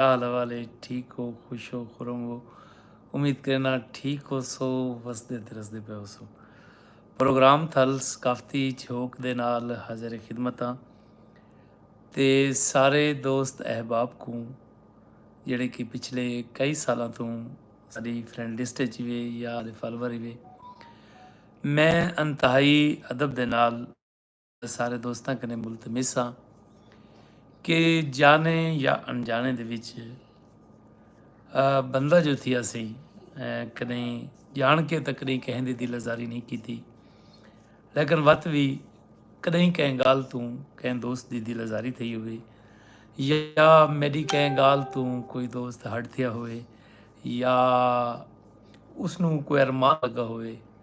حال احوال ہے ٹھیک ہو خوش ہو خرم ہو امید کرینا ٹھیک ہو سو وسدے تے رسدے پہ ہو سو پروگرام تھل ثقافتی جھوک دے نال حاضر خدمت ہاں تے سارے دوست احباب کو جڑے کہ پچھلے کئی سالاں تو ساری فرینڈ لسٹ چ وے یا فالوور وے میں انتہائی ادب دے نال سارے دوستاں کنے ملتمس ہاں کہ جانے یا انجانے دے وچ بندہ جو تھی اسی کنے جان کے تک نہیں کہیں دی دل ازاری نہیں کی تھی لیکن وقت بھی کدیں کہیں گال توں کہیں دوست دی دل ازاری تھی ہوئے یا میری کہیں گال توں کوئی دوست ہٹ تھیا ہوئے یا اس نو کوئی ارمان لگا ہوئے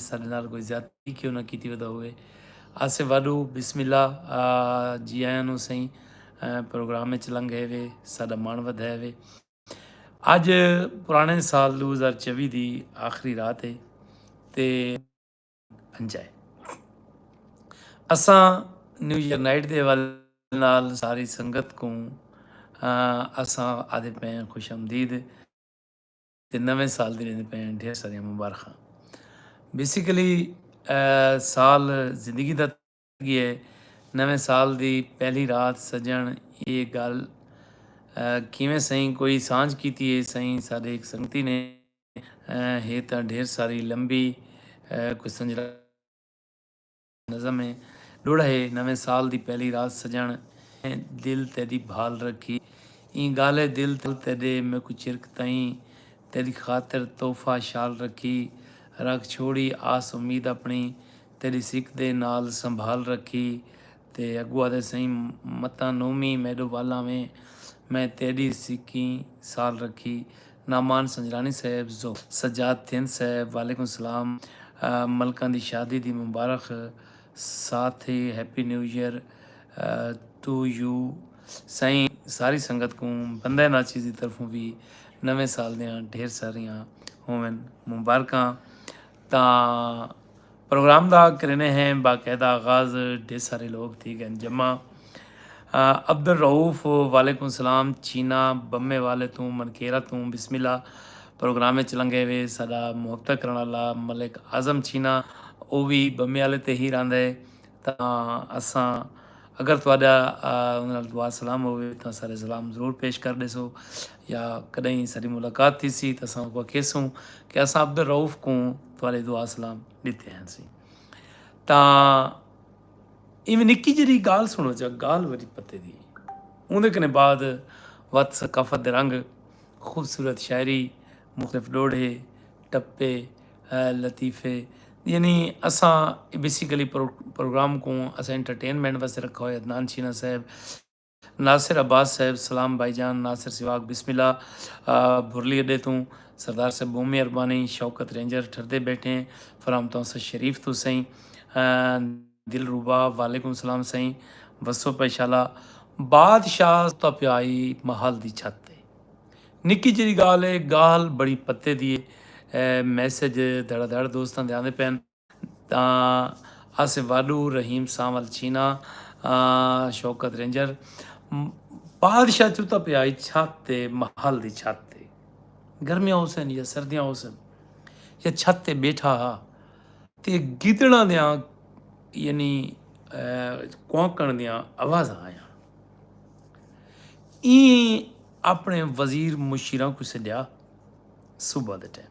ساڈے نال کوئی زیادتی کیوں نہ کیتی ودا ہوئے آصف واڈو بسم اللہ جی آیاں نو سائیں پروگرام وچ لنگ ہے وے ساڈا مان ود ہے وے اج پرانے سال 2024 دی آخری رات ہے تے انجائے اساں نیو ایئر نائٹ دے والے نال ساری سنگت کو اساں آدھے پہ خوش آمدید تے نویں سال دی ویندے پئے ہن ڈھیر ساریاں مبارخاں بیسیکلی سال زندگی دا گئے نویں سال دی پہلی رات سجن یہ گل کیویں سائیں کوئی سانج کیتی ہے سائیں سارے ایک سنگتی نے ہے تاں ڈھیر ساری لمبی کوئی سنجرا نظم ہے ݙوڑھا ہے نویں سال دی پہلی رات سڄݨ میں دل تیݙی بھال رکھی ایں ڳالھ ہے دل تیݙے میکوں چرک تئیں تیݙی خاطر تحفہ شال رکھی رکھ چھوڑی آس امید اپݨی تیݙی سک دے نال سنبھال رکھی تے اڳوں آہدے سئیں متاں نومی میݙو ول آویں میں تیݙی سکیں سال رکھی نعمان سنجرانی صیب زو۔ سجاد تھند صیب وعلیکم السلام ملکاں دی شادی دی مبارخ ساتھ ای happy new year to you سائیں ساری سنگت کوں بندہ ناچیز دی طرفوں وی نویں سال دیاں ڈھیر ساریاں ہوون مبارکاں تاں پروگرام دا کرینے ہیں باقاعدہ آغاز ڈھیر سارے لوگ تھی گئن جمع عبدالرؤف وعلیکم السلام چینا بمے والے توں منکیرا توں بسم اللہ پروگرام اچ لنگے وے ساڈا محبتہ کرن والا ملک اعظم چینا او وی بمے والے تے ہی رہندا ہے تاں اساں اگر تہاڈا اوندے نال دعا سلام ہووے تاں سارے سلام ضرور پیش کر ڈیسو یا کڈہیں ساڈی ملاقات تھیسی تاں اساں اوکوں کہیسوں کہ اساں عبدالرؤف کوں تہاݙے دعا سلام ݙتے ہنسی تاں ایویں نکی جی گال سنو چا گال وری پتے دی اندر کنے بعد وت ثقافت دے رنگ خوبصورت شاعری مختلف ڈوڑھے ٹپے لطیفے یعنی اساں بیسیکلی پروگرام کو اساں انٹرٹینمنٹ واسطے رکھا ہوئے عدنان شینا صاحب ناصر عباس صاحب سلام بھائی جان ناصر سواگ بسم اللہ بھرلی اڈے توں سردار صاحب بہت مہربانی شوکت رینجر ٹھردے بیٹھے فرام تونسہ شریف تو سائیں دلربا وعلیکم سلام سائیں وسو پہ شالا بادشاہ تو پیائی محل دی چھت تے نکی جری گال ہے گال بڑی پتے دی میسج دھڑا دھڑ دوستان دے آندے پین تاں آصف واڈو، رحیم سانول چینا، شوکت رینجر بادشاہ چوتا پیا ہئی چھت تے محل دی چھت تے گرمیاں ہوسن یا سردیاں ہوسن یا چھت تے بیٹھا ہا تے گدڑاں دیاں یعنی کوانکن دیاں آوازاں آیاں ایں اپنے وزیر مشیراں کو سڈیا صبح دے ٹائم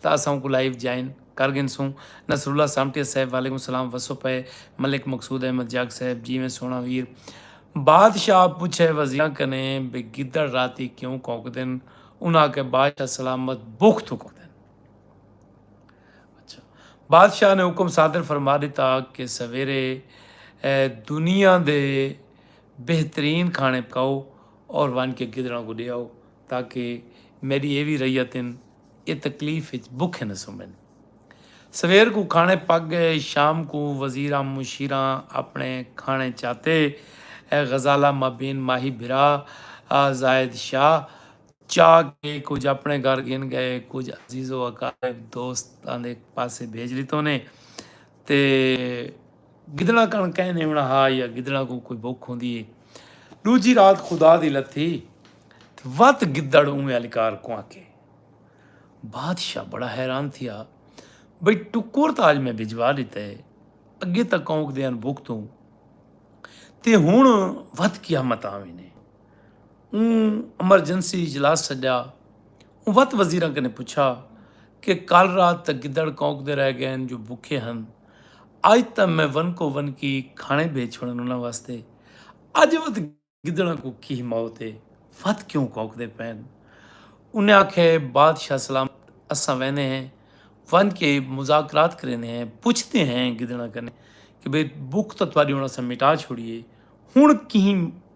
تاں اساں اونکوں لائیو جوائن کر گھنسوں۔ نصراللہ سامٹیہ صاحب وعلیکم السلام وسو پئے ملک مقصود احمد جاگ صاحب جیویں سوہݨا ویر۔ بادشاہ پچھئے وزیراں کنیں بھئی گدڑ راتی کیوں کونکدن انہاں آکھیا بادشاہ سلامت بکھ توں کونکدن۔ اچھا بادشاہ نے حکم صادر فرما ݙتا کہ سویرے دنیا دے بہترین کھاݨے پکاؤ اور ونڄ کے گدڑاں کوں ݙے آؤ تاکہ میݙی ایہ وی رعیت ہن اے تکلیف اچ بکھے نہ سمن۔ سویر کوں کھانے پک گئے۔ شام کوں وزیراں مشیراں اپنے کھانے چاتے۔ اے غزالہ مابین ماہی بھرا زاہد شاہ چا کے کجھ اپنے گھر گھن گئے کجھ عزیز و اقارب دوستاں دے پاسے بھیج ڈتونے۔ تے گدڑاں کن کئے نیونا ہا یا گدڑاں کوں کوئی بک ہوندی ہے ڈوجی رات خدا دی لتھی وت گدڑ اوے الکار کواں کے بادشاہ بڑا حیران تھی آ بھئی ٹکور تا اج میں بھجوا لیتا ہے اگے تا کونک دیاں بک توں تے ہن وت قیامت آویں نے اوں ایمرجنسی اجلاس سڈیا۔ اوں وت وزیراں کنے پچھا کہ کل رات تاں گدڑ کونک دے رہ گئین جو بکھے ہن۔ اج تاں میں ونکو ونکی کھانے بھیج چھوڑن انہاں واسطے۔ اج وت گدڑاں کوں کی موت ہے۔ وت کیوں کونک دے پین۔ انہیں آکھے بادشاہ سلامت اساں وینے ہیں۔ ونج کے مذاکرات کرینے ہیں۔ پچھ دے ہیں گدڑاں کنے کہ بھئی بکھ تاں تہاڈی ہن اساں مٹا چھوڑی ہے۔ ہن کہیں۔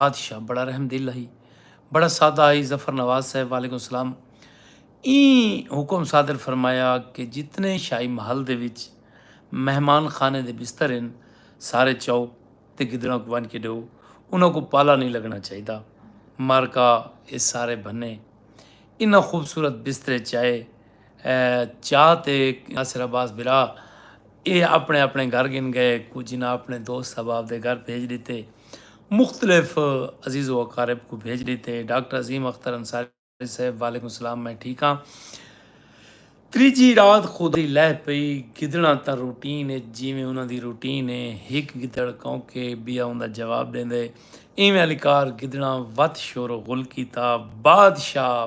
بادشاہ بڑا رحم دل ہی بڑا سادہ آئی ظفر نواز صاحب وعلیکم السلام این حکم صادر فرمایا کہ جتنے شاہی محل دے وچ مہمان خانے دے بستر ہیں سارے چاؤ تے گدڑاں کو ونج کے ڈو انہاں کو پالا نہیں لگنا چاہیے دا مارکا اے سارے بھنے انہاں خوبصورت بسترے چائے چاہ تے ناصر عباس برا اے اپنے اپنے گھر گھن گئے کچھ انہاں اپنے دوست احباب دے گھر بھیج ڈتے مختلف عزیز و اقارب کوں بھیج ڈتے ڈاکٹر عظیم اختر انصاری صاحب وعلیکم سلام میں ٹھیک ہاں تریجھی رات خودی لہ پئی گدڑاں تاں روٹین اچ جیویں انہاں دی روٹین اے ہک گدڑ کوں کے بیا اوندا جواب ڈیندے ایویں علی کار گدڑاں وت شور و غل کیتا بادشاہ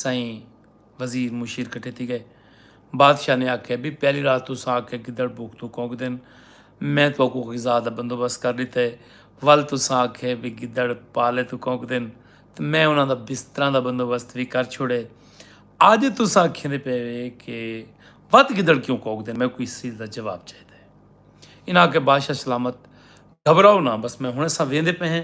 سئیں وزیر مشیر کٹھے تھی گئے۔ بادشاہ نے آکھیا بی پہلی رات تساں آکھیا گدڑ بھوک توں کونکدن میں تہاکوں غذا دا بندوبست کر ڈتا ہے ول تساں آکھیا بی گدڑ پالے توں کونکدن تاں میں انہاں دا بستراں دا بندوبست وی کر چھوڑے اج تساں آکھیندے پئے وے کہ ودھ گدڑ کیوں کونکدن میکوں اس چیز دا جواب چاہیدا ہے۔ انہاں آکھیا بادشاہ سلامت گھبراؤ نہ بس میں ہنڑ اساں ویندے پئے ہیں۔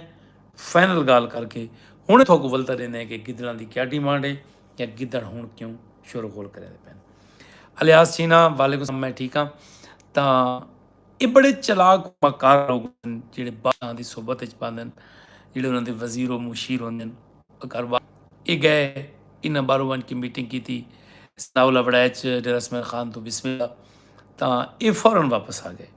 فائنل گالھ کر کے ہنڑ تھوکوں ولتا ڈیندے ہیں کہ گدڑاں دی کیا ڈیمانڈ ہے یا گدڑ ہنڑ کیوں شور غول کریندے پین الیاس چینا وعلیکم السلام میں ٹھیک ہاں تاں اے بڑے چلاک مکار لوگ ہن جڑے بادشاہاں دی صحبت وچ پاندن جڑے انہاں دے وزیر و مشیر ہوندن اگر وا اے گئے انہاں بارو ونج کے میٹنگ کیتی ثناء اللہ وڑائچ ڈیرہ اسماعیل خان توں بسم اللہ تاں اے فورن واپس آ گئے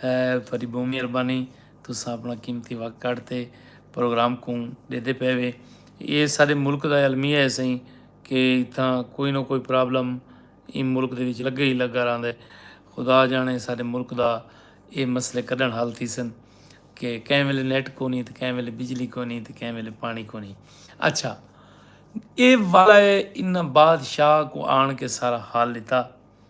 تہاݙی ٻہوں مہربانی تساں اپݨا قیمتی وقت کڈھ تے پروگرام کوں ݙیندے پئے وے ایہ ساݙے ملک دا المیہ ہے سئیں کہ اتھاں کوئی نہ کوئی پرابلم ایں ملک دے وچ لڳے ہی لڳا رہندا ہے خدا ڄاݨے ساݙے ملک دا ایہ مسئلے کݙݨ حل تھیسن کہ کہیں ویلے نیٹ کونی تے کہیں ویلے بجلی کونی تے کہیں ویلے پاݨی کونی اچھا ایہ والا ہے انہاں بادشاہ کوں آݨ کے سارا حال ݙتا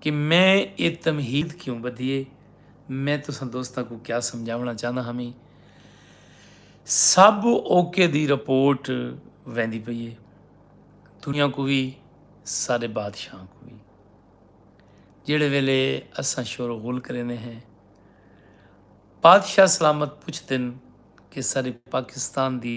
کہ میں اے تمہید کیوں بدھی اے میں تساں دوستاں کوں کیا سمجھاونڑاں چاہنداں ہاں میں سب اوکے دی رپورٹ ویندی پئی اے دنیا کوں وی ساڈے بادشاہاں کوں وی جیڑھے ویلے اساں شور و غل کریندے ہیں بادشاہ سلامت پچھدن کہ ساڈے پاکستان دی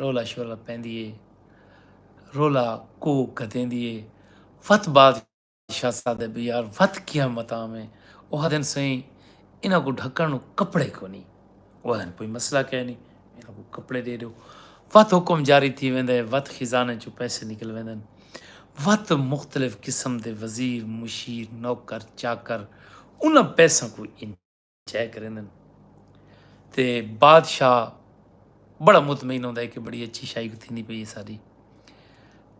رولا شولا پیندی اے رولا کو گھتیندی اے وت بعد شاہ صادے بھی یار وت کیا متام اے اوہ دن سئیں انہاں کو ڈھکن نو کپڑے کو نی اوہ دن کوئی مسئلہ کہہ نی انہاں کو کپڑے دے دیو وت حکم جاری تھی ویندے وت خزانے چو پیسے نکل ویندن وت مختلف قسم دے وزیر مشیر نوکر چاکر انہاں پیساں کو انج چیک کریندن تے بادشاہ بڑا مطمئن ہوندا ہے کہ بڑی اچھی شاہی کو تھیندی پئی ہے ساری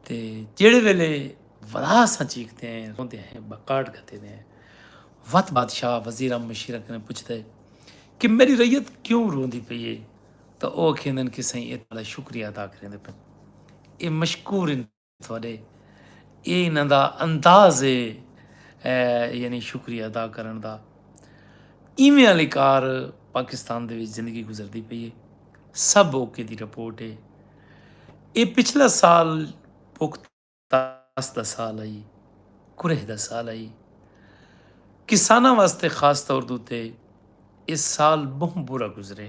تے جیڑے ویلے ولا سا چیکتے ہیں روندے ہیں بکاٹ کھتے ہیں وت بادشاہ وزیرہ مشیرہ کنے پوچھتا ہے کہ میری ریت کیوں روندی پئی ہے تو او کھیندن کہ سائیں اے تالا شکریہ ادا کریندے پن اے مشکور ان تھوڈے ایہ انہاں دا انداز ہے یعنی شکریہ ادا کرن دا ایویں آلی کار پاکستان دے وچ زندگی گزردی پئی ہے سب اوکے دی رپورٹ ہے اے پچھلا سال پخت تاس دا سال آئی کرہ دا سال آئی کساناں واسطے خاص طور دوتے اس سال بہت برا گزرے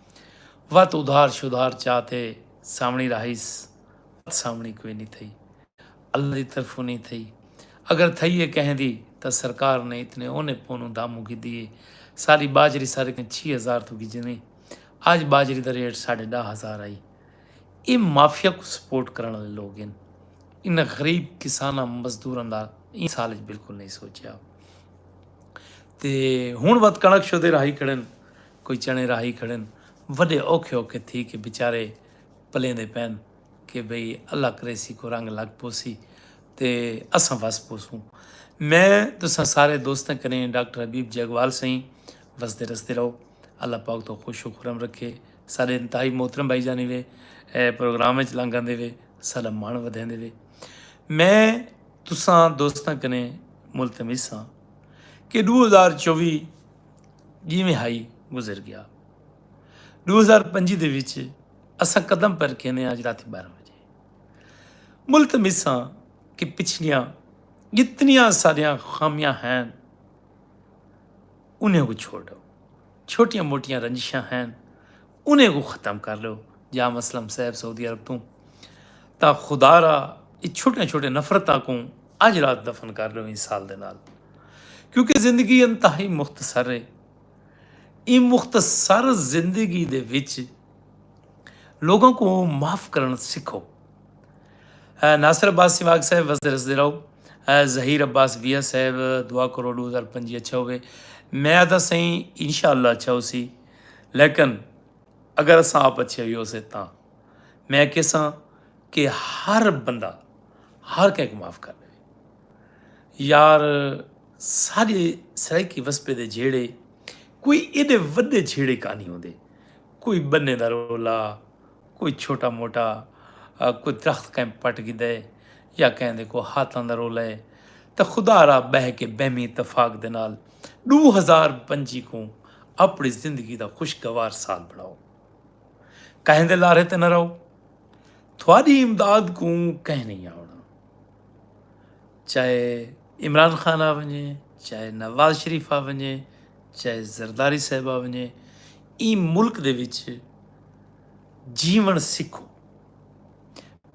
وت ادھار شدھار چا تے ساوݨی راہیس وت ساوݨی کوئی نی تھئی اللہ دی طرفوں نی تھئی اگر تھئی اے کہیں دی تاں سرکار نے اتنے اونے پونوں داموں گھدی اے ساری باجری سارے کہیں چھی ہزار توں گھجنی آج باجری دا ریٹ ساڈھے ڈاہ ہزار ہئی اے مافیا کوں سپورٹ کرن آلے لوگ ہن انہاں غریب کساناں مزدوراں دا ایں سال اچ بالکل نی سوچیا تے ہن وت کݨک شدھے راہی کھڑن۔ کوئی چݨے راہی کھڑن وݙے اوکھے اوکھے تھی کے بیچارے پلیندے پئن کے بھئی اللہ کریسی کو رنگ لگ پوسی تے اساں وس پوسوں میں تساں سارے دوستاں کنیں ڈاکٹر حبیب جیگوال سئیں وسدے رسدے رہو اللہ پاک توں خوش و خرم رکھے ساڈے انتہائی محترم بھائی جانی وے پروگرام وچ لنگ آندے وے ساڈا مان ودھیندے وے میں تساں دوستاں کنیں ملتمس ہاں کہ ڈو ہزار چوی جیویں ہائی گزر گیا دو ہزار پنجی دے وچ اساں قدم پر کھینے آج رات بارہ بجے ملت مساں کہ پچھلیاں جتنیاں ساریاں خامیاں ہیں انہیں کو چھوڑو چھوٹیاں موٹیاں رنجشاں ہیں انہیں کوں ختم کر لو یا مسلم صاحب سعودی عرب توں تا خدا را یہ چھوٹے چھوٹے نفرتاں کوں اج رات دفن کر لو این سال دے نال کیونکہ زندگی انتہائی مختصر ہے این مختصر زندگی دے وچ لوگوں کو معاف کرن سکھو ناصر عباس سواگ صاحب وسدے رسدے رہو ظہیر عباس ویا صاحب دعا کرو ڈو ہزار پنجی اچھا ہوئے میں آدھا سائیں انشاءاللہ اچھا ہو سی لیکن اگر اساں آپ اچھے ہوئے اسے تاں میں کساں کہ ہر بندہ ہر کہک معاف کر دے یار سارے سرائیکی وسپے دے جھیڑے کوئی ایڈے ودے جھیڑے کا نہیں ہوندے کوئی بنے دا رولا کوئی چھوٹا موٹا کوئی درخت کہیں پٹ گھدا ہے یا کہیں دے کوئی ہاتھاں دا رولا ہے تے خدا را بہہ کے بہمی اتفاق دے نال ݙو ہزار پنجی کوں اپݨی زندگی دا خوشگوار سال بݨاؤ کہیں دے لارھے تے نہ رہو تھوڑی امداد کوں کہیں نہیں آوݨا چاہے عمران خان آ ونجے چاہے نواز شریف آ ونجے چاہے زرداری صاحب آ ونجے ایں ملک دے وچ جیون سکھو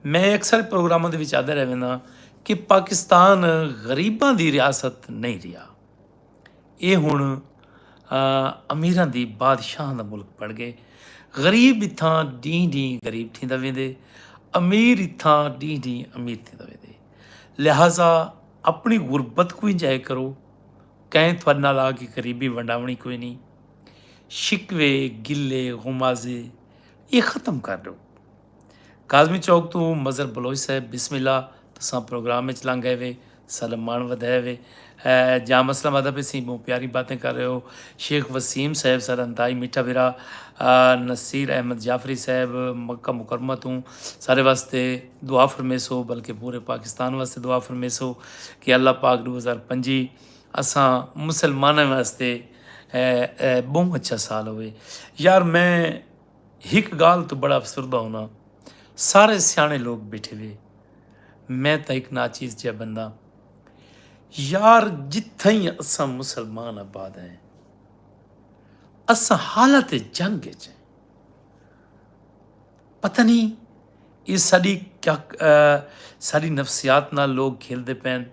میں اکثر پروگرام کے آدھا رہا کہ پاکستان غریباں دی ریاست نہیں رہا اے ہن امیراں دی بادشاہاں دا ملک بن گئے غریب اتھاں ڈینہہ ڈینہہ غریب تھیندا ویندے امیر اتھاں ڈینہہ ڈینہہ امیر تھیندا ویندے لہذا اپنی غربت کو انجوائے کرو کہیں تھوڑے نال آ کے غریبی ونڈاونی کوئی نہیں شکوے گلے غمازے یہ ختم کر دو کاظمی چوک تو مظہر بلوچ صاحب بسم اللہ تساں پروگرام وچ لنگ گئے وے سلم مان ودھائے وے جام اسلام آباد پہ سی بہت پیاری باتیں کر رہے ہو شیخ وسیم صاحب سارا انتہائی میٹھا بھرا نصیر احمد جعفری صاحب مکہ مکرمہ تو سارے واسطے دعا فرمیسو بلکہ پورے پاکستان واسطے دعا فرمیسو کہ اللہ پاک دو ہزار پنجی اساں مسلمانوں واسطے بہت اچھا سال ہوئے یار میں ہک گالھ توں بڑا افسردہ ہونا سارے سیانے لوگ بیٹھے وے میں تاں ہک ناچیز جیا بندہ یار جتھائیں اساں مسلمان آباد ہیں اساں حالت جنگ اچ ہیں پتہ نہیں یہ ساری کیا ساری نفسیات نال لوگ کھیلتے پین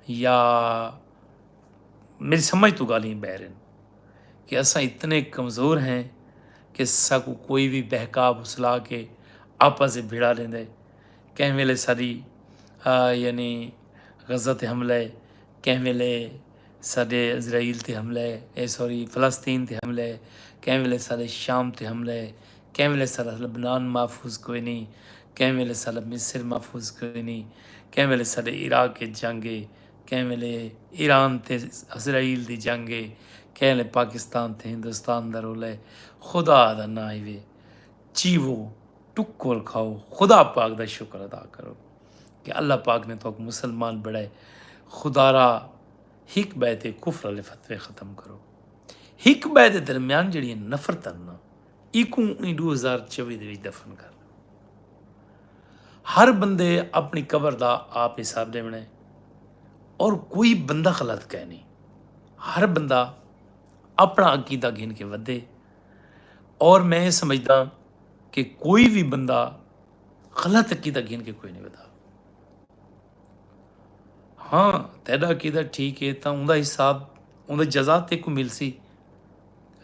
یا میری سمجھ تو گالیں بہرن کہ اساں اتنے کمزور ہیں کہ ساکو کوئی بھی بہکا بسلا کے آپس سے بھڑا لیندے کہیں ویلے ساری یعنی غزہ تے حملہ ہے کہیں ویلے سارے اسرائیل تے حملہ ہے اے سوری فلسطین تے حملہ ہے کہیں ویلے سارے شام تے حملہ ہے کہیں ویلے سارا لبنان محفوظ کوئی نہیں کہیں ویلے سارا مصر محفوظ کوئی نہیں کہیں ویلے سارے عراق کے جنگ ہے کہیں ویلے ایران تے اسرائیل دی جنگ ہے کہیں ویلے پاکستان تے ہندوستان دا رولا ہے خدا دا ناں ایوے چیوو ٹکول کھاؤ خدا پاک دا شکر ادا کرو کہ اللہ پاک نے تو مسلمان بڑھائے خدا را ہک بے تے کفر والے فتوے ختم کرو ہک بے دے درمیان جڑی نفرت نا ایکوں ایں ݙو ہزار چوی دے وچ دفن کر ݙیوݨ۔ ہر بندے اپݨی قبر دا آپ حساب ݙیوݨ اے اور کوئی بندہ غلط کائے نی ہر بندہ اپݨا عقیدہ گھن کے ودے اور میں اے سمجھداں کہ کوئی وی بندہ غلط عقیدہ گھن کے کوئی نی ودا ہاں تیݙا عقیدہ ٹھیک اے تاں اوندے حساب اوندے جزا تیکوں ملسی۔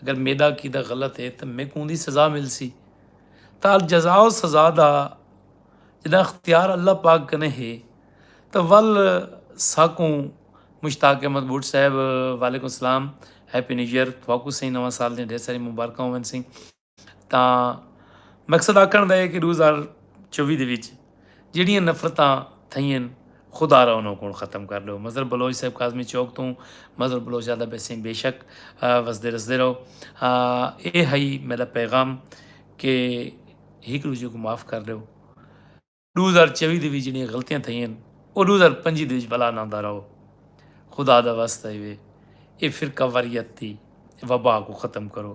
اگر میڈا عقیدہ غلط ہے تو میکوں اوندی سزا ملسی تا الجزاء و سزا دا جڈاں اختیار اللہ پاک کنے ہے تا ول ساکوں مشتاق احمد بھٹ صاحب وعلیکم السلام ہیپی نیو ایئر تھاکوں سئیں نواں سال دیاں ڈھیر ساریاں مبارکاں ہوون سئیں تاں مقصد آکھن دا ہے کہ ݙو ہزار چووی دے وچ جیڑھیاں نفرتاں تھئین خدا را انہاں کوں ختم کر ݙو مظہر بلوچ صاحب کاظمی چوک توں مظہر بلوچ آہدا پیسیں بے شک وسدے رسدے رہو اے ہئی میݙا پیغام کہ ہک ݙوجھے کوں معاف کر ݙیو ݙو ہزار چووی دے وچ جیڑھیاں غلطیاں تھئین او ݙو ہزار پنجی دے وچ بلا نہ آندا رہو خدا دا واسطہ ہے اے فرقہ واریت دی وبا کوں ختم کرو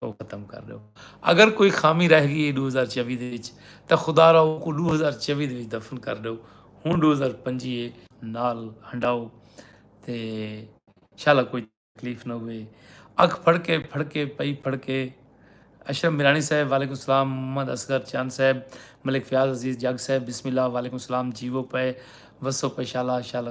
او ختم کر ڈیو اگر کوئی خامی رہ گئی ہے ڈو ہزار چوی دے وچ تاں خدا را اوکوں ڈو ہزار چوی دے وچ دفن کر ڈیو ہن ڈو ہزار پنجی ہے نال ہنڈاؤ تے شالا کوئی تکلیف نہ ہوئے اکھ پھڑکے پھڑکے پئی پھڑکے اشرف میرانی صاحب وعلیکم السلام محمد اصغر چاند صاحب ملک فیاض عزیز جگ صاحب بسم اللہ وعلیکم السلام جیو پے وسو پے شالا شالا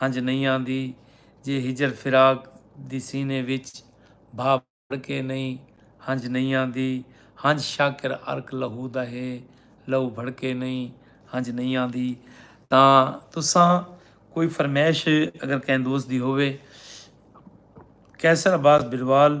ہنج نئیں آندی جے ہجر فراق دی سینے وچ بھا بھر کے نئیں ہنج نئیں آندی ہنج شاکر عرق لہو دا ہے لہو بھڑ کے نئیں ہنج نئیں آندی تاں تساں کوئی فرمائش اگر کہیں دوست دی ہووے قیصر عباس بروال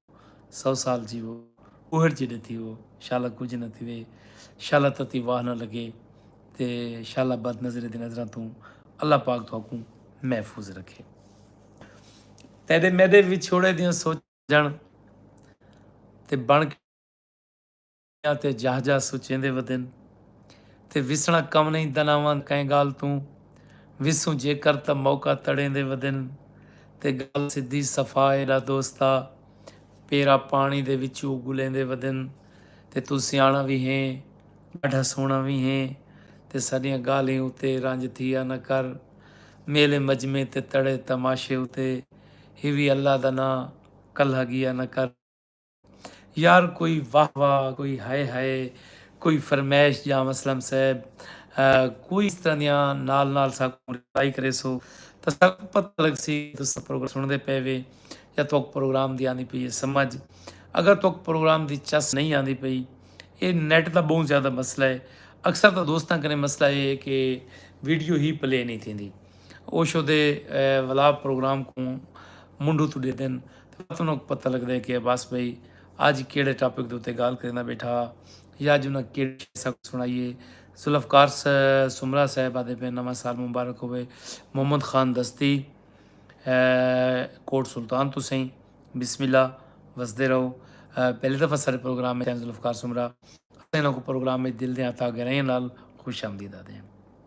سو سال جیوو اوہڑ جیڈے تھیوو شالا کجھ نہ تھیوے شالا تتی واہ نہ لگے تے شالا بد نظرے دی نظراں توں اللہ پاک تہاکوں محفوظ رکھے تیڈے میڈے وچھوڑے دیاں سوچاں تے بن یا تے جاہ جاہ سچیندے ودن تے وسنڑا کم نئیں دناواں کئیں گالھ توں وسوں جیکر تاں موقع تڑیندے ودن تے گالھ سدھی صفا ایڈا دوستا پیرا پانڑی دے وچوں اگلیندے ودن تے توں سیانڑا وی ہیں ڈاڈھا سونڑا وی ہیں تے ساڈیاں گالھیں اتے رنج تھیا نہ کر میلے مجمے تے تڑے تماشے اتے ہیوی اللہ دا ناں کلھا گیا نہ کر۔ یار کوئی واہ واہ کوئی ہائے ہائے کوئی فرمائش جاں وسلم صاحب کوئی اس طرح دیاں نال نال ساکوں رپلائی کرے سو تاں ساکوں پتہ لگ سی کہ تساں پروگرام سن دے پے وے یا توک پروگرام دی آندی پئی ہے سمجھ اگر توک پروگرام دی چس نہیں آندی پئی اے نیٹ دا بہوں زیادہ مسئلہ ہے اکثر تاں دوستاں کنے مسئلہ اے ہے کہ ویڈیو ہی پلے نہیں تھیندی۔ اوشو دے ولاپ پروگرام کوں منڈھو توں ڈیدن تے وت انہاں کوں پتہ لگدے کہ عباس بھائی اج کیڑھے ٹاپک دے اتے گال کریندا بیٹھا ہا یا اج انہاں کیڑھی شے اساں کوں سنڑائی ہے ذوالفقار سومرا صاحب آدھے پئے نواں سال مبارک ہووے محمد خان دستی کوٹ سلطان تو سئیں بسم اللہ وسدے رہو پہلی دفعہ سارے پروگرام میں ذوالفقار سومرا اساں انہاں کو پروگرام میں دل دیاں عطا گہرائیاں نال خوش آمدید آدھے ہیں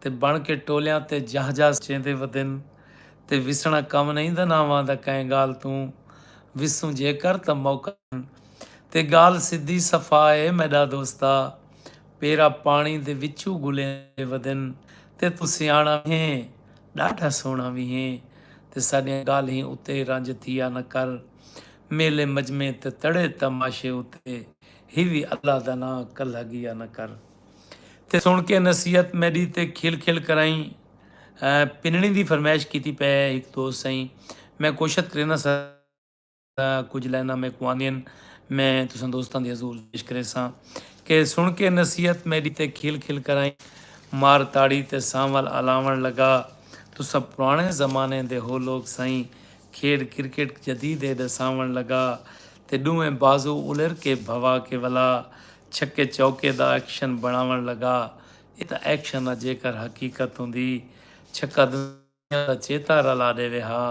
تے بݨ کے ٹولیاں تے جاہ جاہ چیندے ودن تے وسݨا کم نئیں دا ناں واندا کئیں ڳالھ توں وسوں جے کر تاں موقع ݙن تے ڳالھ سدھی صفا اے میݙا دوستا پیرا پاݨی دے وچوں ڳلیندے ودن تے توں سیاݨا وی ہیں ݙاڈھا سوہݨا وی ہیں تے ساݙیاں ڳالھیں اتے رنج تھیا نہ کر میلے مجمعیں تے تڑے تماشے اتے ہیوی اللہ دا ناں کلھا ڳیا نہ کر۔ تے سݨ کے نصیحت میݙی تے کھل کھل کرائیں پنݨیں دی فرمائش کیتی پئے ہک دوست سئیں میں کوشت کرینداں سر کجھ لائناں میکوں آندین میں تساں دوستاں دے حضور پیش کریساں کہ سݨ کے نصیحت میݙی تے کھل کھل کرائیں مار تاڑی تے سانول الاوݨ لگا تساں پراݨے زمانے دے ہو لوک سئیں کھیݙ کرکٹ جدید اے ݙساوݨ لگا تے ݙوہیں بازو الر کے بھوا کے ولا چھکے چوکے دا ایکشن بنڑاونڑ لگا اے تاں ایکشن نا جیکر حقیقت ہوندی چھکا دنیا دا چیتا رلا ڈیوے ہا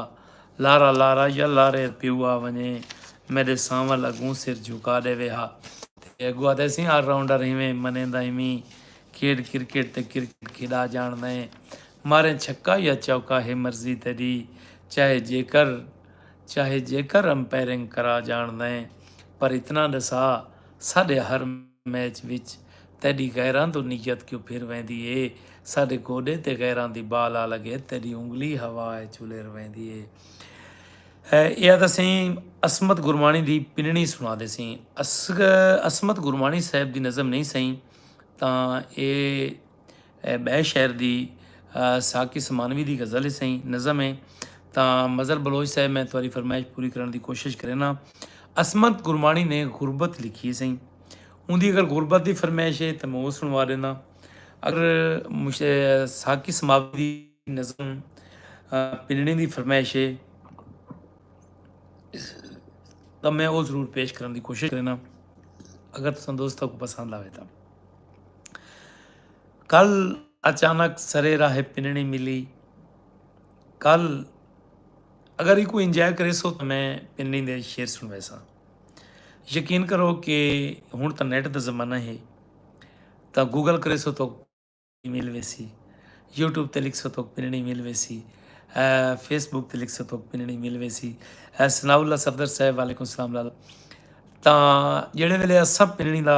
لارا لارا یا لارے پیو آ ونجے میڈے سانول اگوں سر جھکا ڈیوے ہا تے اگوں آدھے سیں آل راؤنڈر ہیویں منیندا ہیویں کھیڈ کرکٹ تے کرکٹ کھیڈا جانڑدا اے ماریں چھکا یا چوکا ہے مرضی تیڈی چاہے جیکر چاہے جیکر امپیرنگ کرا جانڑدا اے پر اتنا ڈسا ساڈے ہر میچ وچ تیڈی غیراں توں نیت کیوں پھر ویندی اے ساڈے گوڈے تے غیراں دی بال آ لگے تیڈی انگلی ہوا اچ الر ویندی اے ایہا تاں سئیں عصمت گرمانی دی پننی سنا دے سئیں عصمت گرمانی صاحب دی نظم نہیں سئیں تاں اے اے ٻئے شعر دی ساقی سمانوی دی غزل ہے سائیں نظم ہے تاں مظہر بلوچ صاحب میں تاری فرمائش پوری کرن دی کوشش کرینا اسمت گرمانی نے غربت لکھی ہے سائیں ان دی اگر غربت دی فرمائش ہے تو میں وہ سنوا دینا اگر ساقی سماوی دی نظم پنڑی دی فرمائش ہے تو میں وہ ضرور پیش کرن دی کوشش کرینا اگر تسان دوستہ کو پسند آوے تھا کل اچانک سرے راہ پنڑی ملی کل اگر ایکو انجوائے کرے سو تو میں پنڑی دے شیر سن ویسا یقین کرو کہ ہن تو نیٹ دا زمانہ ہے تو گوگل کرے سو تو مل ویسی یوٹیوب تے لکھ سو تو پنڑی مل ویسی فیس بک تے لکھ سو تو پنڑی مل ویسی سنا اللہ صفدر صاحب وعلیکم السلام لالا تا جڑے ویلے سب پنڑی دا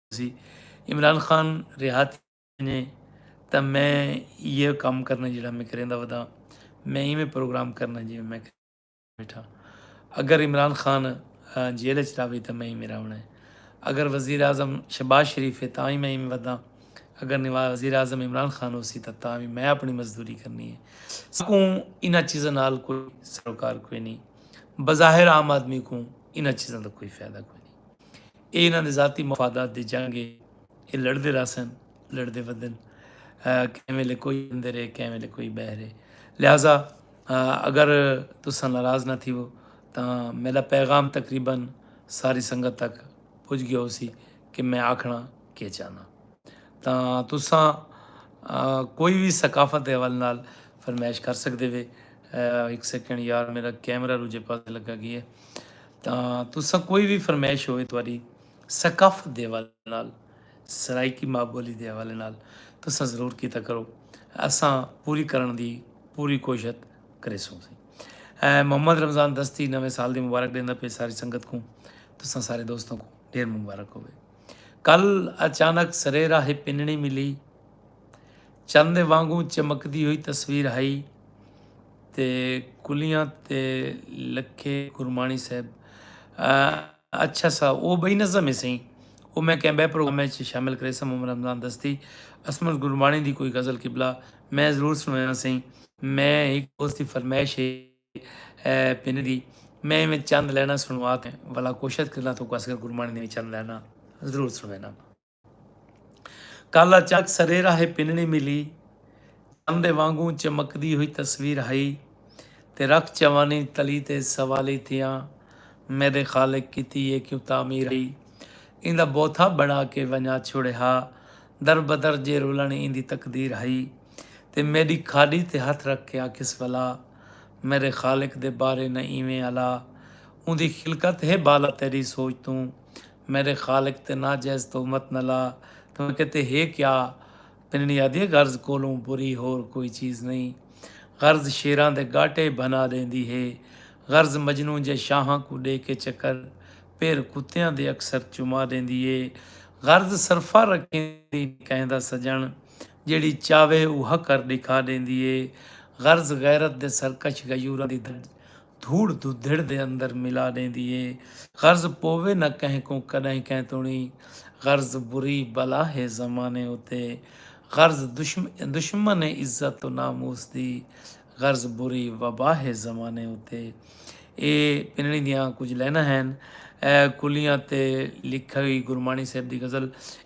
سی عمران خان ریہات ونجے تاں میں ایہو کم کرنا جیڑھا میں کریندا ودا میں ایویں پروگرام کرنا جیویں میں بیٹھا اگر عمران خان جیل اچ راوے تاں میں ایویں راونا ہے اگر وزیر اعظم شہباز شریف ہے تاں ہی میں ایویں ودا اگر نواز وزیر اعظم عمران خان ہو سی تاں تاں بھی میں اپنی مزدوری کرنی ہے سکوں انہاں چیزاں نال کوئی سروکار کوئی نہیں بظاہر عام آدمی کو انہاں چیزاں دا کوئی فائدہ کوئی نہیں اے انہاں دے ذاتی مفادات دی جنگ اے، اے لڑدے رہسن، لڑدے ودن، کہیں ویلے کوئی اندر اے کہیں ویلے کوئی بہر اے، لہذا اگر تساں ناراض نہ تھیو تاں میڈا پیغام تقریبا ساری سنگت تک پج گیا ہو سی کہ میں آکھنا کے چاہنا۔ تاں تساں کوئی وی ثقافت دے حوالے نال فرمائش کر سکدے وے۔ ہک سیکنڈ یار میڈا کیمرہ روجھے پاسے لگا گیا اے۔ تاں تساں کوئی وی فرمائش ہووے تہاݙی ثقافت دے حوالے نال، سرائیکی ماء ٻولی دے حوالے نال تساں ضرور کیتا کرو، اساں پوری کرݨ دی پوری کوشت کریسوں۔ محمد رمضان دستی نویں سال دی مبارک ݙیندا پئے ساری سنگت کوں، تساں سارے دوستاں کوں ݙھیر مبارک ہووے۔ کل اچانک سرے راہ پنݨی ملی، چن دے وانگوں چمکدی ہوئی تصویر ہئی۔ تے کلیاں تے لکھے گرمانی صاحب اچھا سا او بئی نظم ہے سہی او میں کہیں بے پروگرام میں شامل کرے سا محمد رمضان دستی اسمت گرمانی دی کوئی غزل قبلہ میں ضرور سنوینا سہی میں ایک دوست دی فرمائش ہے پن دی میں میں چند لینا سنوا تے والا کوشش کرنا تو کس گرمانی دی چند لینا ضرور سنوینا کالا چک سریرا ہے پنڑی ملی چن دے وانگوں چمکدی ہوئی تصویر ہئی تے رکھ چوانی تلی تے سوالی تھیاں میڈے خالق کیتی اے کیوں تعمیر ہئی ایندا بوتھا بنڑا کے ونجا چھوڑے ہا در بدر جے رلن ایندی تقدیر ہئی تے میڈی کھاڈی تے ہتھ رکھ کے آکھیس ولا میڈے خالق دے بارے نہ ایویں الا اوندی خلقت ہے بالا تیڈی سوچ توں میرے خالق تے ناجائز تہمت نہ لا تاں کیتے ہے کیا پنڑی آدھیے غرض کولوں بری ہور کوئی چیز نئیں غرض شیراں دے گاٹے بھنا ڈیندی ہے غرض مجنوں جے شاہاں کوں ڈے کے چکر پیر کتیاں دے اکثر چما ڈیندی ہے غرض سرفا رکھیندی کہیں دا سجن جیڑھی چاوے اوہا کر ڈکھا ڈیندی ہے غرض غیرت دے سرکش غیوراں دی دھج دھوڑ دھدھڑ دے اندر ملا ݙیندی اے۔ غرض پووے نہ کہیں کوں کݙاہیں کہیں توڑیں غرض بری بلا ہے زمانے اتے غرض دشمن ہے عزت و ناموس دی غرض بری وبا ہے زمانے اتے اے پنڑی دیاں کجھ لائناں ہن کلیاں تے لکھئی گرمانی صاحب دی غزل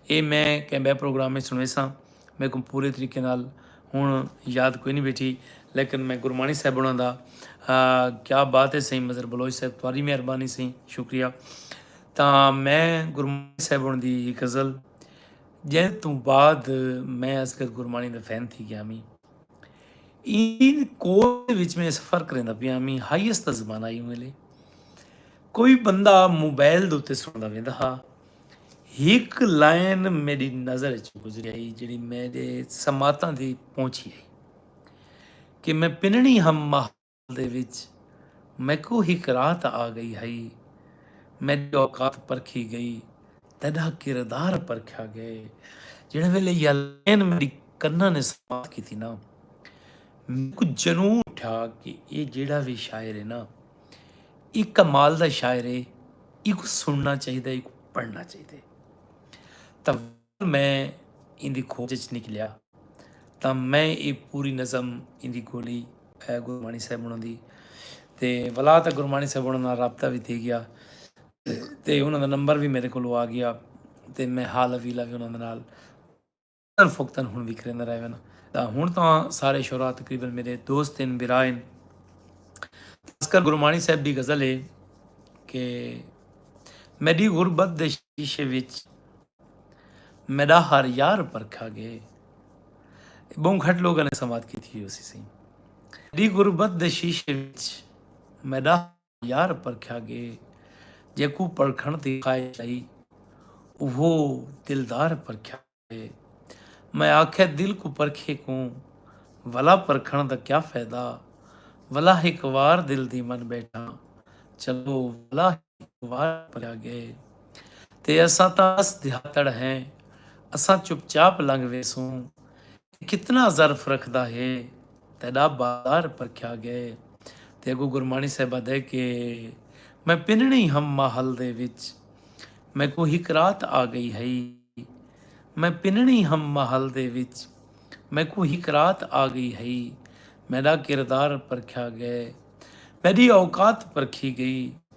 اے میں کہیں ٻئے پروگرام وچ سݨیساں۔ میکوں پورے طریقے نال ہن یاد کوئی نہیں بیٹھی لیکن میں گرمانی صاحب انہاں دا کیا بات ہے سائیں مظہر بلوچ صاحب تواری مہربانی سائیں شکریہ تا میں گرمانی صاحب انہاں دی یہ غزل جن تو بعد میں اصغر گرمانی دا فین تھی گیا میں این کوئی وچ میں سفر کریں دا پیا میں ہائیس دا زمانہ ہی ملے کوئی بندہ موبائل دوتے سن دا ویندا ہا ہک لائن میڈی نظر اچ گزری آئی جیڑی میڈے سماعتاں دی پہنچی آئی کہ میں پنڑی ہم محل دے وچ میکوں ہک راہ تاں آ گئی ہئی میڈی اوقات پرکھی گئی تیڈا کردار پرکھیا گئے جیڑھے ویلے یا لائن میڈی کناں نے سماعت کیتی نا میکوں جنون اٹھیا کہ اے جیڑھا وی شاعر ہے نا اے کمال دا شاعر ہے ایکو سننا چاہیے ایکو پڑھنا چاہیے تو میں ان دی کھوج چ نکلیا تو میں یہ پوری نظم ان دی گولی گرمانی صاحب انہوں دی تے ولا تو گرمانی صاحب انہوں نے رابطہ بھی تھی گیا تے انہوں دا نمبر بھی میرے کو آ گیا تے میں حال ویلا بھی انہوں نے اکثر فوقتاً ہن وی کریندا رہ وینا دا ہن تاں سارے شعراء تقریبا میڈے دوست ہن برا ہن خاص کر گرمانی صاحب دی غزل ہے کہ میڈی غربت دے شیشے وچ میڈا ہر یار پرکھا گئے بہوں گھٹ لوگاں نے سماعت کیتی ہوسی سی میڈی غربت دے شیشے وچ میڈا یار پرکھیا ڳے جیکوں پرکھݨ دی خواہش ہئی اوہو دلدار پرکھیا ڳے میں آکھیا دل کوں پرکھے کوں ولا پرکھݨ دا کیا فیدہ ولا ہک وار دل دی من ٻیٹھاں چلو ولا ہک وار پرکھیا ڳے تے اساں تاں اس دیہاتڑ ہیں اساں چپ چاپ لنگھ ویسوں کتنا ظرف رکھدا ہے تیڈا بازار پرکھیا گئے تے اگوں گرمانی صاحب آدھے کہ میں پننڑی ہم ماحل دے وچ میکوں ہک رات آ گئی ہئی میں پننڑی ہم ماحل دے وچ میکوں ہک رات آ گئی ہئی میڈا کردار پرکھیا گئے میڈی اوقات پرکھی گئی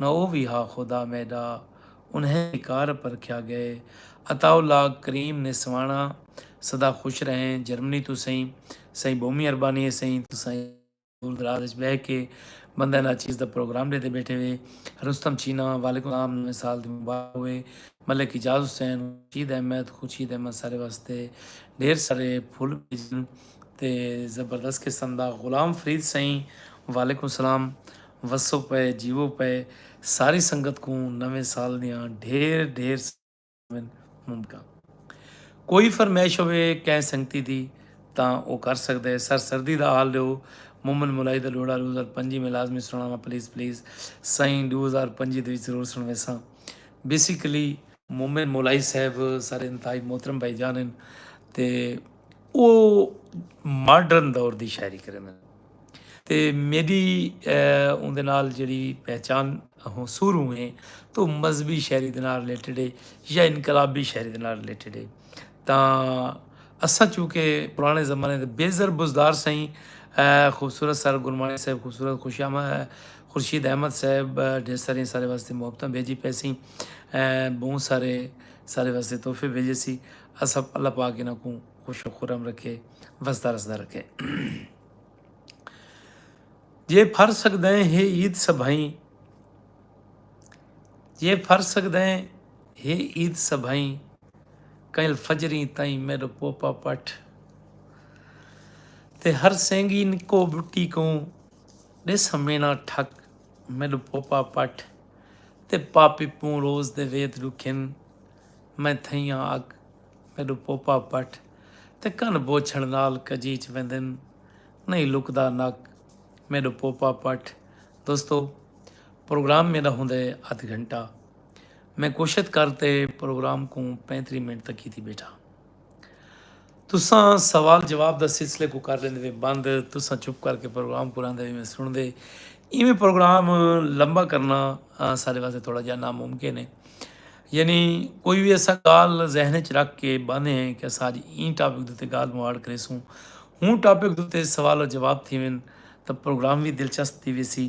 نہ او وی ہا خدا میڈا۔ انہیں وی کار پرکھیا گئے۔ عطاء اللہ کریم نے سوانا سدا خوش رہیں جرمنی توں سئیں سئیں بہمی اربانی ہے سئیں توں سائیں دور دراز اچ بہہ کے بندہ نا چیز دا پروگرام ڈیندے بیٹھے وے رستم چینا وعلیکم السلام نویں سال دی مبارک ہوئے ملک اعجاز حسین خورشید احمد خورشید احمد سارے واسطے ڈھیر سارے پھل بھیجن تے زبردست قسم دا غلام فرید سئیں وعلیکم السلام وسو پئے جیوو پئے ساری سنگت کوں نویں سال دیاں ڈھیر ڈھیر ساریاں مبارکاں کوئی فرمائش ہوے کہیں سنگتی دی تاں او کر سکدے سر سردی دا حال ڈیو مومن مولائی دا لوڑا ڈو ہزار پنجی میں لازمی سنڑاواں پلیز پلیز سائیں ڈو ہزار پنجی دے وچ ضرور سنڑویساں بیسیکلی مومن مولائی صاحب سارے انتہائی محترم بھائی جان ہن تے او ماڈرن دور دی شاعری کریندے ہن۔ تے میڈی اوندے نال جیڑھی پہچان ہوں سوروں ہے تو مذہبی شاعری دے نال ریلیٹڈ ہے یا انقلابی شاعری دے نال ریلیٹڈ ہے تاں اساں چونکہ پرانے زمانے دے بے زر بزدار سئیں خوبصورت سر گرمانی صاحب خوبصورت خوش آمد خورشید احمد صاحب ڈھیر سارے سارے واسطے محبتاں بھیجی پے سی بہت سارے سارے واسطے تحفے بھیجے سی اسب اللہ پاک انہاں کو خوش و خورم رکھے وسدا رسدا رکھے جے پھر سگدیں ہے عید سبھائیں جے پھر سگدیں ہے عید سبھائیں کئل فجریں تائیں میرو پوپا پٹ تے ہر سینگی نکو بٹی کوں دے سمینا ٹھک میرو پوپا پٹ تے پاپی پوں روز دے وید رکھن میں تھئیاں اگ میڈو پوپا پٹ تے کن بوچھڑ نال کجیچ ویندن نہیں لکدا نک میڈو پوپا پٹ دوستو پروگرام میڈا ہوندے ادھ گھنٹہ میں کوشت کر تے پروگرام کوں پینتری منٹ تک کیتی بیٹھا تساں سوال جواب دا سلسلے کو کر لیندے وے بند تساں چپ کر کے پروگرام کو لاندے وے میں سن دے ایویں پروگرام لمبا کرنا سارے واسطے تھوڑا جہا ناممکن ہے یعنی کوئی بھی ایسا گال ذہن چ رکھ کے باندھے ہیں کہ ساج این ٹاپک دوتے گال مواڑ کرے سوں ہوں ٹاپک دوتے سوال و جواب تھی ون تو پروگرام بھی دلچسپ تھی ویسی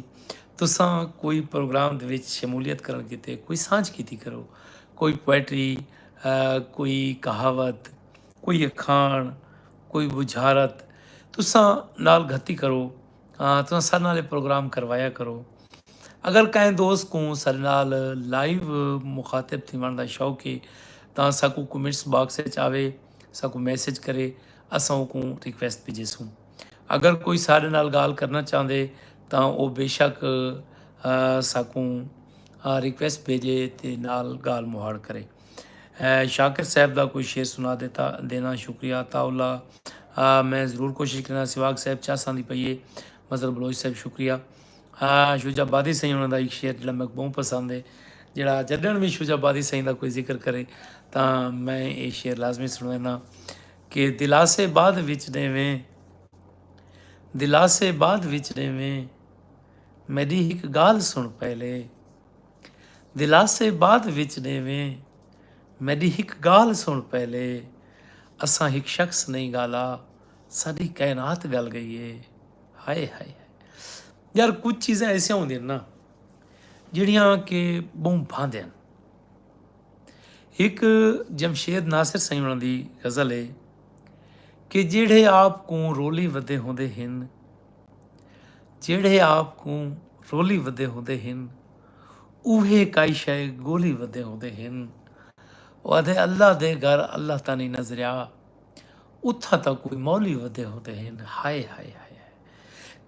تساں کوئی پروگرام دے وچ شمولیت کرن کیتے کوئی سانج کیتی کرو کوئی پوئٹری کوئی کہاوت کوئی اکھاݨ کوئی بجھارت تساں نال گھتی کرو تساں سر نال پروگرام کروایا کرو اگر کہیں دوست کو سر نال لائیو مخاطب تھی ون دا شوق ہے تاں ساکو کمنٹس باکس وچ آوے ساکو میسج کرے اساں کو ریکویسٹ بھیجے سوں اگر کوئی ساڈے نال گالھ کرنا چاہندے تاں او بے شک ساکوں ریکویسٹ بھیجے تے نال گالھ مہاڑ کرے شاکر صاحب دا کوئی شعر سنا دیتا دینا شکریہ عطا اللہ میں ضرور کوشش کرنا سواگ صاحب چاہ ساندی پئیے مظہر بلوچ صاحب شکریہ شوجا بادی سائیں انہوں دا ایک شعر جڑا میں بہت پسند ہے جڑا جڈن بھی شوجا بادی سائیں دا کوئی ذکر کرے تاں میں یہ شعر لازمی سنوینا کہ دلاسے بعد وچ ݙیویں۔ دلاسے بعد وچ ݙیویں۔ میݙی ہک ڳالھ سݨ پہلے۔ دلاسے بعد وچ ݙیویں۔ میݙی ہک ڳالھ سݨ پہلے۔ اساں ہک شخص نئیں ڳالا۔ ساݙی کائنات ڳل ڳئی اے۔ ہائے ہائے ہائے۔ یار کجھ چیزاں ایسیاں ہوندین نا جیڑھیاں کہ ٻہوں بھاندین۔ ہک جمشید ناصر سئیں ہوݨاں دی غزل ہے کہ جیڑھے آپ کوں رولی ودے ہوندے ہن جیڑھے آپ کوں رولی ودے ہوندے ہن اوہے کائی شے گولی ودے ہوندے ہن او آدھے اللہ دے گھر اللہ تانی نظریا اتھا تا کوئی مولی ودے ہوندے ہن ہائے ہائے ہائے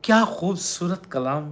کیا خوبصورت کلام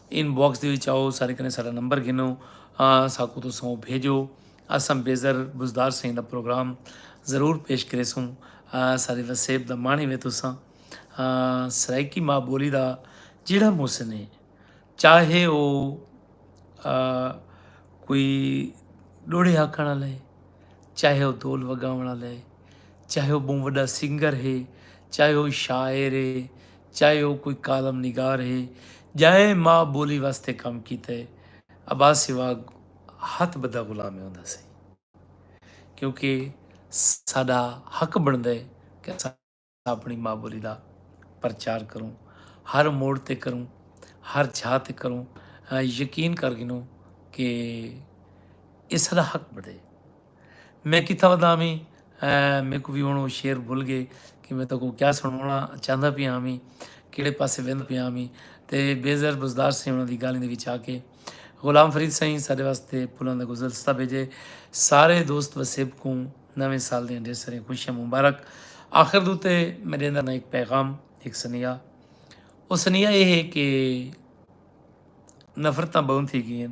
ان باکس دے وچ آؤ سارے کنے ساڈا نمبر گھنو ساکو تساں او بھیجو اساں بیزر بزدار سائیں دا پروگرام ضرور پیش کریسوں سارے وسیب دا مانی وے تساں سرائیکی ماں بولی دا جیڑا محسن ہے چاہے او کوئی ڈوڑے آکھن والا ہے چاہے او دول وگاون والا ہے چاہے او بہوں وڈا سنگر ہے چاہے او شاعر ہے چاہے او کوئی کالم نگار ہے جاں ماء بولی واسطے کم کیتا ہے عباسی واگ ہتھ بدھا غلام ہی ہوندا سئی کیونکہ ساڈا حق بندا ہے کہ اساں اپنی ماء بولی دا پرچار کروں ہر موڑ تے کروں ہر چھا تے کروں یقین کر گھنوں کہ اے ساڈا حق بندا ہے میں کتھاں ودا ہاویں میکوں وی ہن او شعر بھل گئے کہ میں تاکوں کیا سنڑاونا چاہندا پیا ہاویں کیڑے پاسے ویندا پیا ہاویں تے بے زر بزدار سائیں انہاں دی گالھیں دے وچ آ کے غلام فرید سائیں سارے واسطے پھلاں دا گزلستہ بھیجے سارے دوست وسیب کوں نویں سال دیاں ڈھیر ساریاں خوشیاں مبارک آخر دے اتے میں ڈیندا نا ایک پیغام ایک سنیہا او سنیہا اے ہے کہ نفرتاں بہوں تھی گئین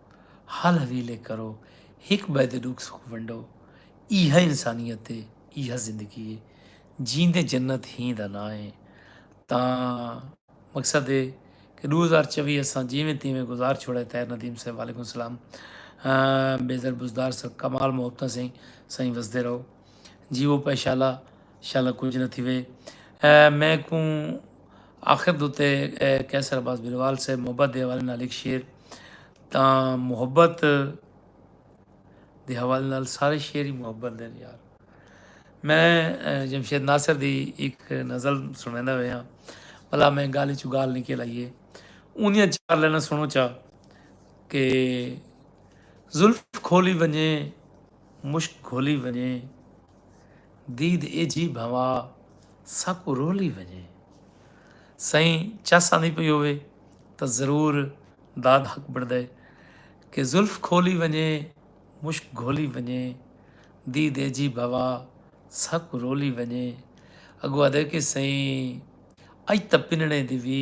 حل حویلے کرو، ہک ٻئے دے ݙکھ سکھ ونڈو، ایہا انسانیت اے، ایہا زندگی اے، جیندے جنت ہی دا ناں اے تاں مقصد اے کہ ݙو ہزار چووی اساں جیویں تیویں گزار چھوڑئے طاہر ندیم صاحب وعلیکم سلام بیزر بزدار سر کمال محبتاں سئیں سائیں وسدے رہو جیو پے شالا شالا کچھ نہ تھیوے میں کوں آخر دوتے قیصر عباس بلوال سے محبت دے حوالے نال ایک شعر تاں محبت دے حوالے نال سارے شعر ہی محبت دے یار میں جمشید ناصر دی ایک نظر سنیندا وے ہاں بھلا میں گال چ گال نکل آئیے اونیاں چار لینا سنو چا کہ زلف کھولی ونجے مشک کھولی ونجے دید ایجھی بھوا ساکو رولی ونجے سئیں چس آندی پئی ہووے تاں ضرور داد حق بݨدے کہ زلف کھولی ونڄے مشک گھولی ونڄے دی دیجھی بھوا ساں کوں رولی ونڄے اڳوں آہدے کہ سئیں اڄ تاں پنݨے دی وی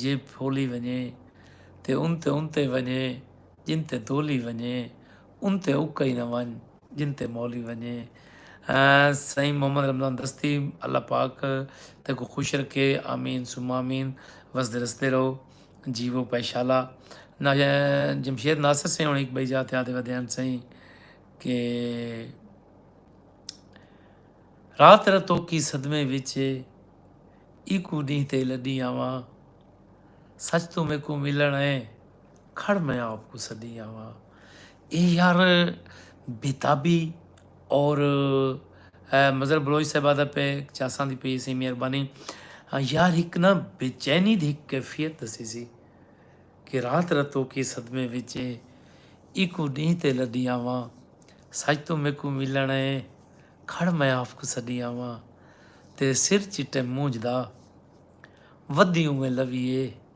جیب پھولی ونڄے تے ان تے ان تے ونڄے جن تے دولی ونڄے ان تے اکئی نہ ونڄ جن تے مولی ونجے۔ سائیں محمد رمضان دستی اللہ پاک تیکوں خوش رکھے آمین ثم آمین وسدے رسدے رہو جیوو پائے شالا نا جمشید ناصر سائیں ہن ہک بئی جا تے آدے ودے ہن سائیں کہ رات را توکی صدمے وچ اے ایکو ڈینہ تے لڈی آواں سچ توں میکوں ملن اے کھڑ میں آپ کوں سڈی آواں اے یار بیتابی اور مظہر بلوچ صاحب آدھا پہ چاساں دی پی سی مہربانی یار ہک نا بے چینی دی ہک کیفیت دسی سی کہ رات رتو کی صدمے وچے ایکو ڈی تے لڈی آواں سچ تو میکو ملن اے کھڑ میں آپ کو سڈی آواں تیرے سر چٹے مونج دا ودی اویں لویے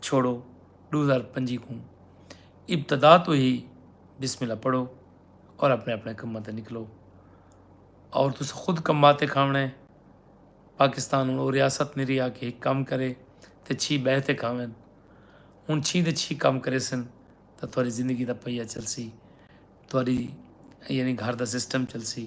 چھوڑو دو ہزار پنجی کوں ابتدا تو ہی بسم اللہ پڑھو اور اپنے اپنے کماں تے نکلو اور تس خود کما تے کھاونے پاکستان ہوں وہ ریاست نہیں رہا کہ ایک کام کرے تے چھی بہ تے کھاون ہوں چھی تے چھی کام کرے سن تو تھوڑی زندگی دا پہیہ چلسی تھوڑی یعنی گھر دا سسٹم چلسی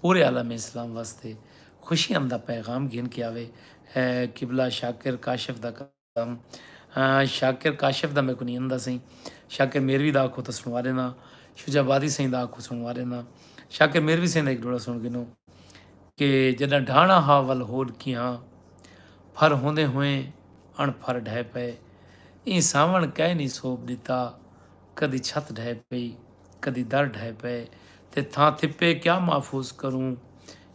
پورے عالم اسلام واسطے خوشیاں دا پیغام گھن کے آوے قبلہ شاکر کاشف دا کلام شاکر کاشف دا میں کو نہیں آندا سائیں شاکر میروی دا آکھو تو سنوا دینا شجا بادی سائیں دا آکھو سنوا دینا شاکر میروی سائیں دا ایک ڈوڑا سن گنو کہ جدہ ڈھانا ہا ول ہوڈ کی ہاں پھر ہوندے ہوئے اڑ پھر ڈھے پے این ساون کہے نہیں سوپ دیتا کدی چھت ڈھے پی کدی در ڈھئے پئے تے تھاں تھپے کیا محفوظ کروں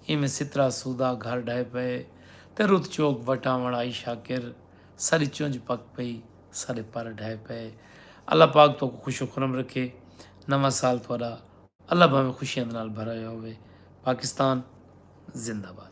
ایویں سترا سودا گھر ڈھئے پئے تے رت چوک وٹاوݨ آئی شاکر ساری چنج پک پئی سارے پر ڈھئے پئے اللہ پاک تہاکوں خوش و خرم رکھے نواں سال تہاڈا اللہ بھاویں خوشیاں دے نال بھرا ہویا ہووے پاکستان زندہ باد۔